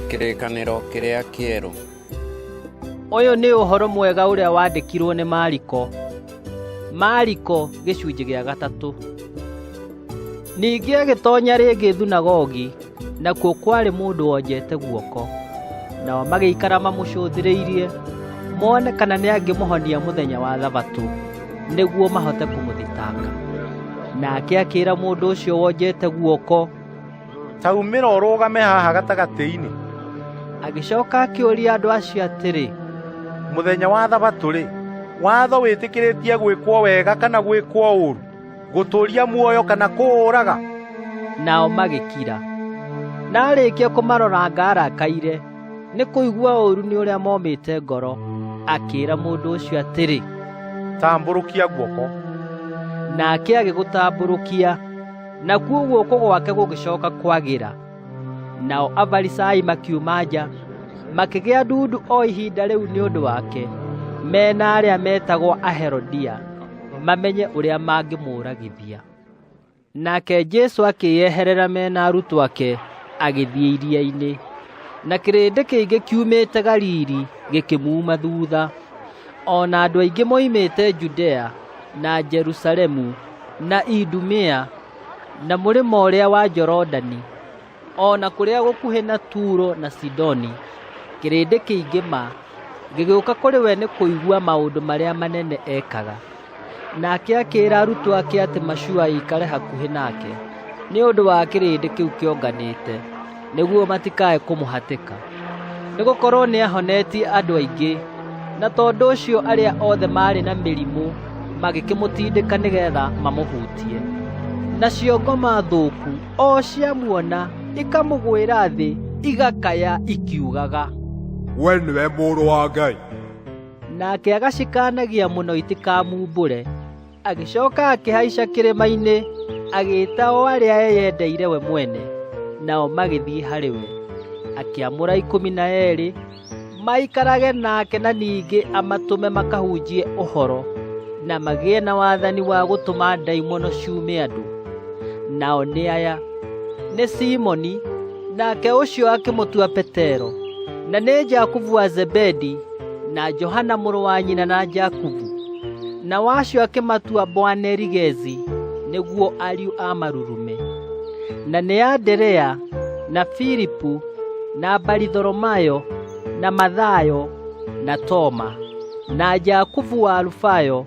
Kĩrĩkanĩro kĩrĩa kĩerũ. Ũyũ nĩ ũhoro mwega ũrĩa wandĩkirwo nĩ Mariko. Mariko gĩcunjĩ gĩa gatatũ. Ningĩ agĩtonya rĩngĩ thunagogi, nakuo kwarĩ mũndũ wonjete guoko. Nao magĩikara mamũcũthĩrĩirie, mone kana nĩ angĩmũhonia mũthenya wa thabatũ, nĩguo mahote kũmũthitanga. Nake akĩra mũndũ ũcio wonjete guoko, ta umĩra ũrũgame haha gatagatĩ-inĩ agĩcoka akĩũria andũ acio atĩrĩ mũthenya wa thabatũ-rĩ watho wĩtĩkĩrĩtie gwĩkwo wega kana gwĩkwo ũru gũtũũria muoyo kana kũũraga nao magĩkira na arĩkia kũmaroranga arakaire nĩ kũigua ũru nĩ ũrĩa momĩte ngoro akĩra mũndũ ũcio atĩrĩ tambũrũkia guoko nake agĩgũtambũrũkia nakuo guoko gwake gũgĩcoka kwagĩra nao afarisai makiuma nja makĩgĩa ndundu o ihinda rĩu nĩ ũndũ wake mena arĩa metagwo aherodia mamenye ũrĩa mangĩmũragithia nake jesu akĩyeherera mena arutwo ake agĩthiĩ iria-inĩ na kĩrĩndĩ kĩingĩ kiumĩte galili gĩkĩmuuma thutha o na andũ aingĩ moimĩte Judea na Jerusalemu na Idumea na mũrĩmo ũrĩa wa Jorodani o na kũrĩa gũkuhĩ na Turo na Sidoni kĩrĩndĩ kĩingĩ ma gĩgĩũka kũrĩ we nĩ kũigua maũndũ marĩa manene ekaga. nake akĩĩra arutwo ake atĩ macua ĩikare hakuhĩ nake nĩ ũndũ wa kĩrĩndĩ kĩu kĩonganĩte nĩguo matikae kũmũhatĩka nĩ gũkorwo nĩ ahonetie andũ aingĩ na tondũ ũcio arĩa othe maarĩ na mĩrimũ magĩkĩmũtindĩka nĩgetha mamũhutie nacio ngoma thũku o ciamuona ikamũgwĩra thĩ igakaya ikiugaga we nĩwe mũrũ wa ngai nake agacikanagia mũno itikamumbũre agĩcoka akĩhaica kĩrĩma-inĩ agĩĩta o arĩa eyendeire we mwene nao magĩthiĩ harĩ we akĩamũra ikũmi na erĩ maikarage nake na ningĩ amatũme makahunjie ũhoro na magĩe na wathani wa gũtũma ndaimono ciume andũ nao nĩ aya nĩ simoni nake ũcio akĩmũtua petero na nĩ jakubu wa zebedi na Johana mũrũ wa nyina na Jakubu na wacio akĩmatua Boanerigezi nĩguo ariũ a marurume na nĩ Anderea na Filipu na Baritholomayo na Mathayo na Toma na Jakubu wa Alufayo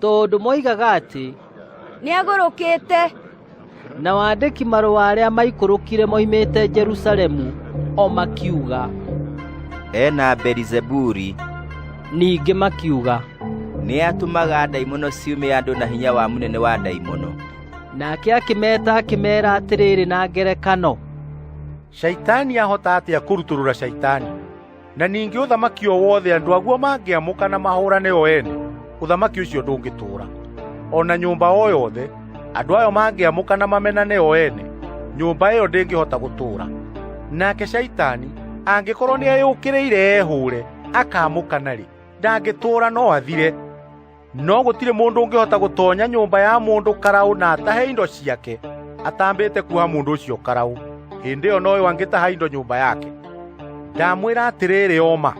tondũ moigaga atĩ nĩagũrũkĩte na wandĩki marũa arĩa maikũrũkire moimĩte Jerusalemu o makiuga ena Berizeburi ningĩ makiuga nĩ atũmaga ndaimono ciume andũ na hinya wa mũnene wa ndaimono nake akĩmeta akĩmera atĩrĩrĩ na ngerekano shaitani ahota atĩa kũrutũrũra shaitani na ningĩ ũthamaki o wothe andũ aguo mangĩamũka na mahũrane o ene ũthamaki ũcio ndũngĩtũũra o na nyũmba o yothe andũ ayo mangĩamũka na mamenane o ene nyũmba ĩyo ndĩngĩhota gũtũũra nake caitani angĩkorwo nĩ eyũkĩrĩire ehũũre akamũka narĩ ndangĩtũũra no athire no gũtirĩ mũndũ ũngĩhota gũtonya nyũmba ya mũndũ karaũ na atahe indo ciake atambĩte kuoha mũndũ ũcio karaũ hĩndĩ ĩyo noyo angĩtaha indo nyũmba yake ndamwĩra atĩrĩrĩ oma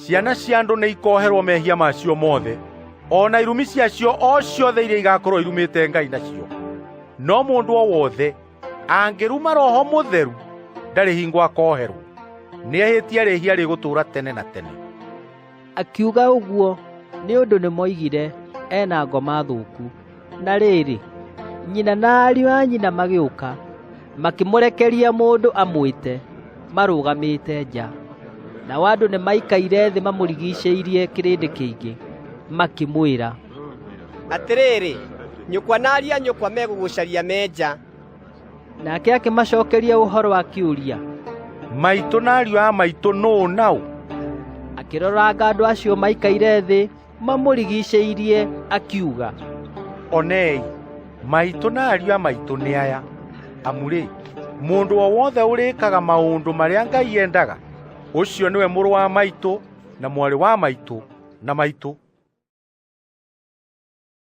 ciana cia andũ nĩ ikoherwo mehia macio mothe o na irumi ciacio o ciothe iria igakorwo irumĩte ngai nacio no mũndũ o wothe angĩruma roho mũtheru ndarĩ hingo akoherwo nĩehĩtie rĩhia rĩgũtũũra tene na tene akiuga ũguo nĩ ũndũ nĩmoigire ena ngoma thũku na rĩrĩ nyina na ariũ a nyina magĩũka makĩmũrekeria mũndũ amwĩte marũgamĩte nja nao andũ nĩmaikaire thĩ mamũrigicĩirie kĩrĩndĩ kĩingĩ makĩmwĩra atĩrĩrĩ nyũkwa na ariũ a nyũkwa megũgũcaria menja nake akĩmacokeria ũhoro wa kĩũria maitũ na ariũ a maitũ nũũ naũ akĩroranga andũ acio maikaire thĩ mamũrigicĩirie akiuga onei maitũ na ariũ a maitũ nĩ aya amurĩ mũndũ o wothe ũrĩkaga maũndũ marĩa ngai endaga ũcio nĩwe mũrũ wa maitũ na mwarĩ wa maitũ na maitũ